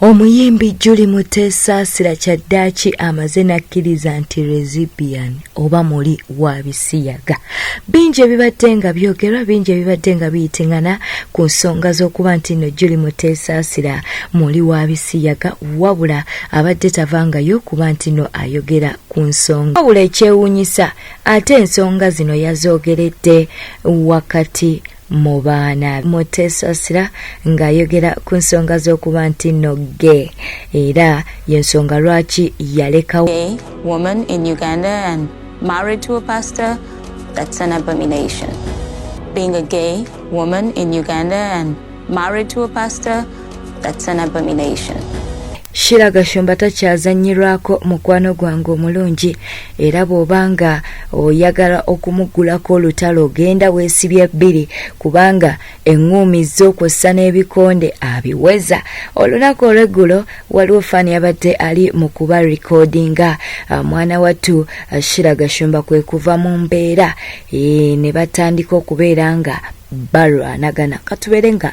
Omuyimbi Julie Muteesaasira kyaddaaki amaze n'akkiriza nti Rezibian oba muli wa bisiyaga. Bingi ebibadde nga byogerwa bingi ebibadde nga biyitingana ku nsonga z'okuba nti nno Julie Muteesaasira muli wa bisiyaga wabula abadde tavangayo kuba nti nno ayogera ku nsonga. Wabula ekyewuunyisa ate ensonga zino yazoogeredde wakati mu baana mutesasira ng'ayogera ku nsonga z'okuba nti no ge era y'ensonga lwaki yalekawo woman in uganda and married to a pastor that's an abomination being a gay woman in uganda and married to a pastor That's an abomination. Shira Gashumba takyazannyirwako mukwano gwange omulungi era bw'oba nga oyagala okumuggulako olutalo genda weesibye bbiri kubanga eŋŋuumi z'okwossa n'ebikonde abiweza olunaku olw'eggulo waliwo faani yabadde ali mu kuba rikodinga ah, mwana wattu ah, Shira Gashumba kwe kuva mu mbeera eh, ne batandika okubeera nga balwanagana katubeere nga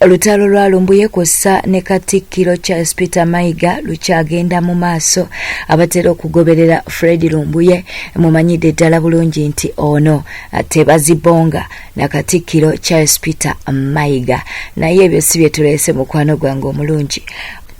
Olutalo lwa Lumbuye kw'ossa ne Katikkiro Charles Peter Mayiga lukyagenda mu maaso. Abatera okugoberera Fred Lumbuye mumanyidde ddala bulungi nti ono tebazibonga na Katikkiro Charles Peter Mayiga. Naye ebyo si bye tuleese mukwano gwange omulungi.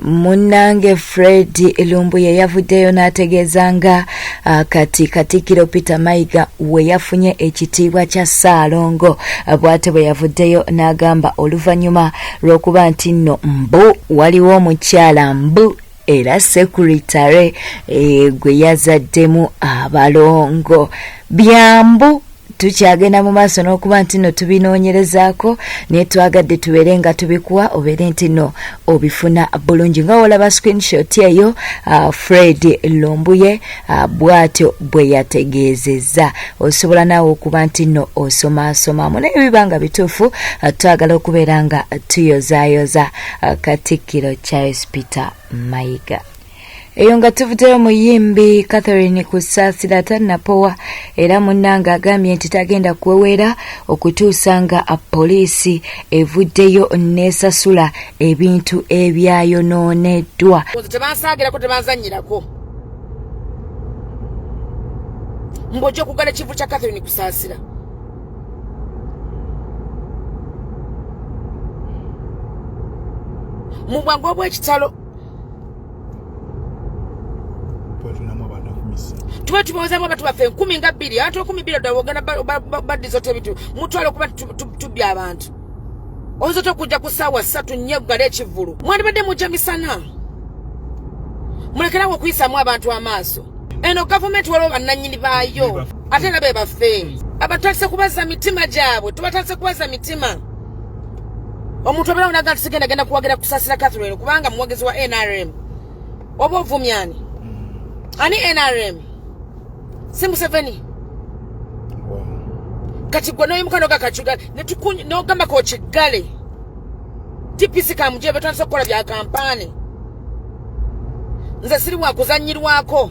munnange fred lumbuye yavuddeyo n'ategeeza nga ah, kati katikkiro peter mayiga we yafunye ekitiibwa kya ssaalongo ah, bw'ate bwe yavuddeyo n'agamba oluvannyuma lw'okuba nti nno mbu waliwo omukyala mbu era sekuritale eh, gwe yazaddemu abalongo byambu tukyagenda mu maaso n'okuba nti no tubinoonyerezaako naye twagadde tubeere nga tubikuwa obeere nti no obifuna bulungi nga wolaba screenshot eyo uh, fred lumbuye uh, bwatyo bwe yategeezezza osobola naawe okuba nti no osomaasomamu naye biba nga bituufu uh, twagala okubeera nga tuyozayoza uh, katikkiro charles peter mayiga eyo nga tuvuddeyo muyimbi catherine kusaasira tannapowa era munnange agambye nti tagenda kuweweera okutuusa nga poliisi evuddeyo n'esasula ebintu ebyayonooneddwa tebansaagirako tebanzanyirako mbojja okugala ekivu kya catherine kusaasira mu bwangu obw'ekitalo tuba tubawozamu abantu baffe enkumi nga bbiri abantu enkumi bbiri ddala ogenda badizota ebintu mutwala okuba tubya abantu oyinza otya okujja ku ssaawa ssatu nnyo eggala ekivulu mwandibadde mujja misana mulekerawo okuyisaamu abantu amaaso eno gavumenti waliwo bannannyini baayo ate era be baffe abatandise kubaza mitima gyabwe tubatandise kubaza mitima omuntu obeera unaga nti sigenda genda kuwagira kusasira catherine kubanga muwagizi wa nrm oba ovumyani mm. ani nrm si museveni kati gwe noyimuka nogakacuga nogamba kokiggale dpc kamuje betandisa okukola bya kampaani nze siri wakuzanyirwako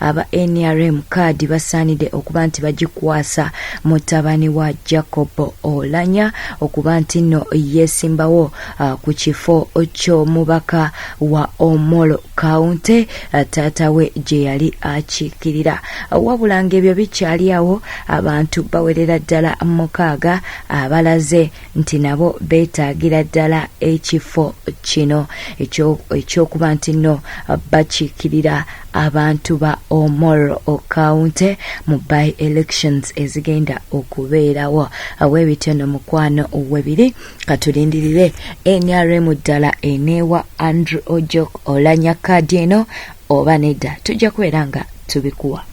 Aba nrm kaadi basaanide okuba nti bagikwasa mutabani wa Jacob Olanya okuba nti nno yeesimbawo uh, ku kifo ky'omubaka wa Omoro County uh, taata we gye yali akiikirira. Wabula ng'ebyo bikyali awo, abantu bawerera ddala mukaaga abalaze nti nabo beetaagira ddala ekifo kino ekyokuba nti nno bakiikirira abantu ba omor okaunte mu by elections ezigenda okubeerawo awebityo no mukwano webiri katulindirire nrm ddala eneewa andrew ojok olanya kaadi eno oba nedda tujja kubeera nga tubikuwa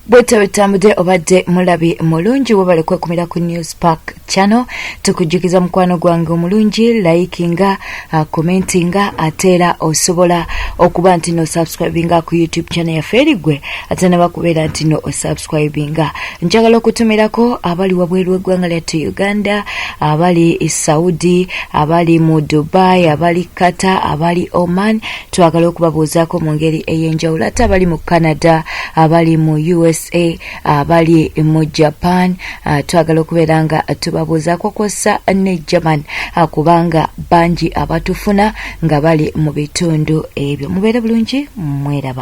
bwetyo bwetutambudde obadde mulabi mulungi webale kwekumira ku news park channel tukujjukiza mukwano gwange omulungi likinga uh, commentinga ate era osobola okuba nti no subscribinga ku youtube channel yaffe eri gwe ate nabakubeera nti no osubscribinga njagala okutumirako abali wabweru w'eggwanga lyattu uganda abali saudi abali mu dubai abali qatar abali oman twagala okubabuuzaako mu ngeri ey'enjawulo ate abali mu canada abali mu usa abali mu japan ah, twagala okubeera nga tubabuuzaako kwossa ne german ah, kubanga bangi abatufuna nga bali mu bitundu ebyo mubeere bulungi mweraba